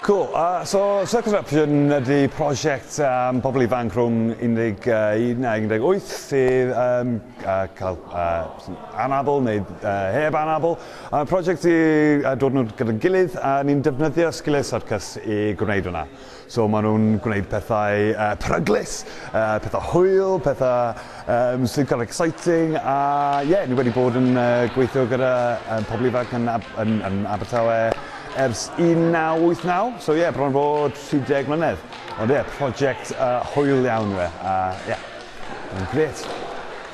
Cool. Uh, so Circus Eruption ydy prosiect um, pobl ifanc rhwng 11 a 18 sydd um, uh, cael uh, anabl neu uh, heb anabl Ond y prosiect yw yy dod nhw gyda'n gilydd a ni'n defnyddio sgiliau syrcas i gwneud hwnna. So ma' nhw'n gwneud pethau yy peryglus, yy pethau hwyl, pethau yym sy'n kind of exciting a ie ni wedi bod yn yy gweithio gyda yym pobl ifanc yn Ab- yn yn Abertawe ers un naw wyth naw so ie bron bod tri deg mlynedd. Ond ie prosiect yy hwyl iawn yw e a ie. Grêt.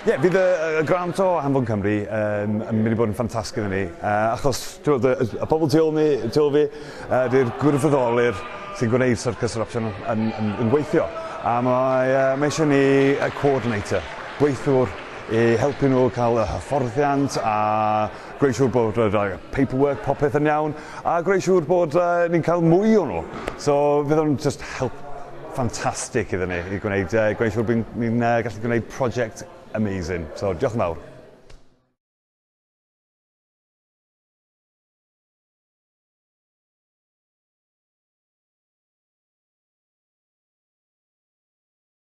Ie, fydd y y y grant o Anfon Cymru yn yn mynd i bod yn ffantastig iddyn ni, yy achos t'mod y y y pobol tu ôl ni, tu ôl fi, yy 'di'r gwirfoddolwyr sy'n gwneud syrcas yr opsiwn yn yn yn gweithio, a mae yy mae isie ni yy co-ordinator, gweithiwr i helpu nhw ca'l y hyfforddiant a gwneud siŵr bod yr yy paperwork popeth yn iawn, a gwneud siŵr bod yy ni'n ca'l mwy o nhw. So fydd o'n jyst help ffantastig iddyn ni i gwneud, uh, gwneud siŵr bod ni'n uh, gallu gwneud prosiect amazing. So, diolch yn fawr.